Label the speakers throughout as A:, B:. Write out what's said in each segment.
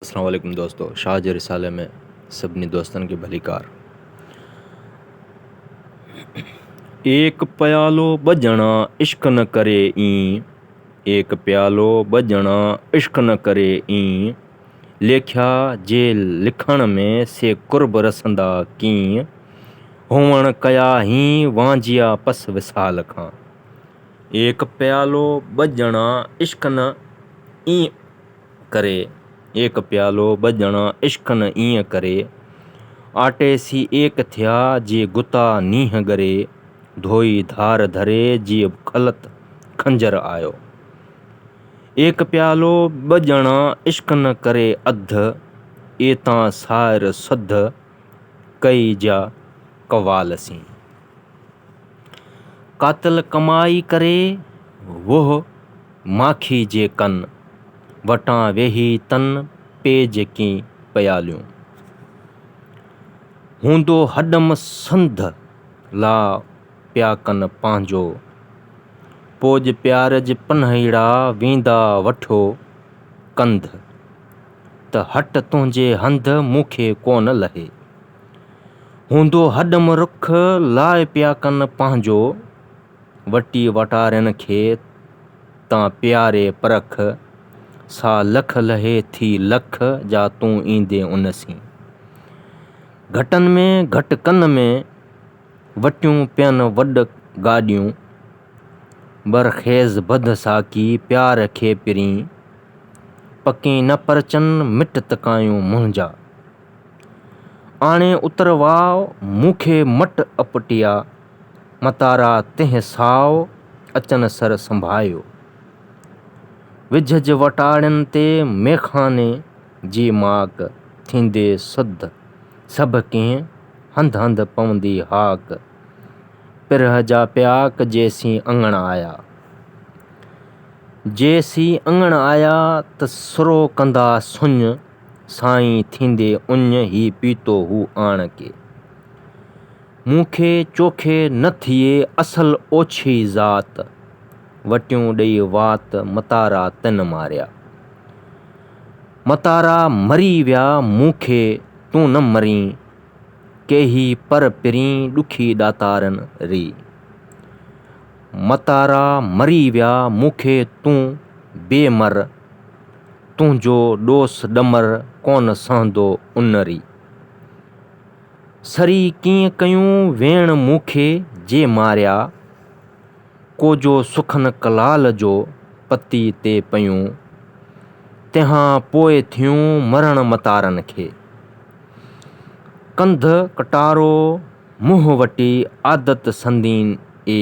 A: اسلام عليڪم دوستو شاهه جي رسالي ۾ سڀني دوستن کي ڀليڪار. ايڪ پيالو ٻه ڄڻا عشق نه ڪري اين ايڪ پيالو ٻه ڄڻا عشق نه ڪري اين ليکيا جي لکڻ ۾ سي قرب رسندا ڪين هونئڻ ڪيا هين وانجهيا پس وصال کان. ايڪ پيالو ٻه ڄڻا عشق نه ايئن ڪري ايڪ پيالو ٻه ڄڻا عشق نه ايئن ڪري آٽي سي ايڪ ٿيا جي گتا نينهن ڳري ڌوئي ڌار ڌري جي کلت خنجر آيو ايڪ پيالو ٻه ڄڻا عشق نه ڪري اڌ ايتان سائر سڌ ڪئي جا قوال سين. قاتل ڪمائي ڪري ووه ماکي جي ڪن، وٽان ويهي تن پيج ڪين پياليون. هوندو هڏم سنڌ لا پيا ڪن پنهنجو، پوڄ پيارج پنهيڙا ويندا وٺيو ڪنڌ، ته هٽ تنهنجي هنڌ مون کي ڪونه لهي. هوندو هڏ مرک، لاء پيا ڪن پنهنجو، وٽي واٽارين کي تان پياري پرک، سا لک لهي ٿي لک، جا تون ايندي ان سين. گهٽن ۾ گهٽ ڪن ۾، وٽيون پين وڏ گاڏيون، بر خيز بڌ ساقي، پيار کي پرين، پڪين نه پرچن، مٽ تڪايون منهنجا. آڻي اتر واء، مون کي مٽ اپٽيا، متارا تنهن ساء، اچن سر سنڀايو. وجهج وٽاڙين تي ميخاني جي ماڪ، ٿيندي سڌ، سڀ ڪنهن، هنڌ هنڌ پوندي هاڪ. پرهه جا پياڪ جيسين اڱڻ آيا. جيسين اڱڻ آيا ته سرو ڪندا سڃ. سائين ٿيندي اڃ هي پيتو هو آڻ ڪي. مون کي چوکي نه ٿئي اصل اوڇي ذات. وٽيون ڏئي وات متارا تن ماريا. متارا مري ويا مون کي تون نه مرين. ڪيهي پر پرين ڏکي ڏاتارن ري. متارا مري ويا مون کي تون بي مر. تنهنجو ڏوس ڏمر ڪونه سهندو انري. سري ڪيئن ڪيون ويڻ مون کي جي ماريا. ڪوجو سخن ڪلال جو پتي تي پيون. تنهان پوء ٿيون مرڻ متارن کي. ڪنڌ ڪٽارو منهن وٽي عادت سندين اي.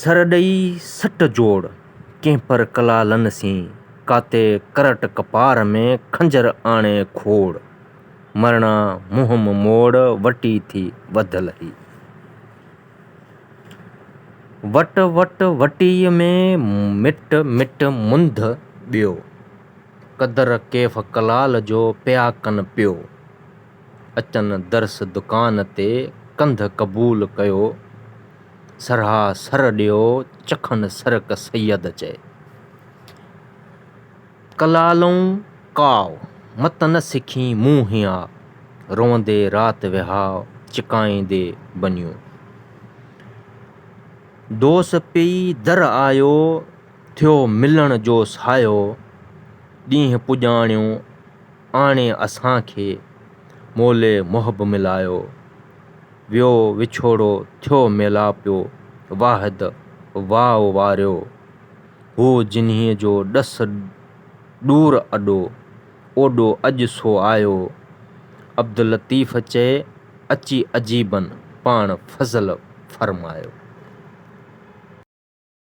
A: سر ڏئي سٽ جوڙ، ڪنهن پر ڪلا لن سين، ڪاتي ڪرٽ ڪپار ۾، خنجر آڻي کوڙ، مرڻا منهم موڙ، وٽي ٿي وڌ لهي. وٽ وٽ وٽيء ۾، مٽ مٽ منڌ ٻيو، قدر ڪيف ڪلال جو، پيا ڪن پيو. اچن درس دڪان تي، ڪنڌ قبول ڪيو. سرها سر ڏيو چکن سرڪ سيد چئي. ڪلالئون ڪائو مت نه سکين مون هيا، روئندي رات ويها چڪائيندي بنيون. دوس پيئي در آيو ٿيو ملڻ جو سايو، ڏينهن پڄاڻيو آڻي اسان کي، مولي محب ملايو. ويو وڇوڙو ٿيو ميلاپيو واحد واء واريو هو جنهيء جو ڏس ڏور اڏو اوڏو اڄ سو آيو عبداللطيف چئي اچي عجيبن پاڻ فضل فرمايو.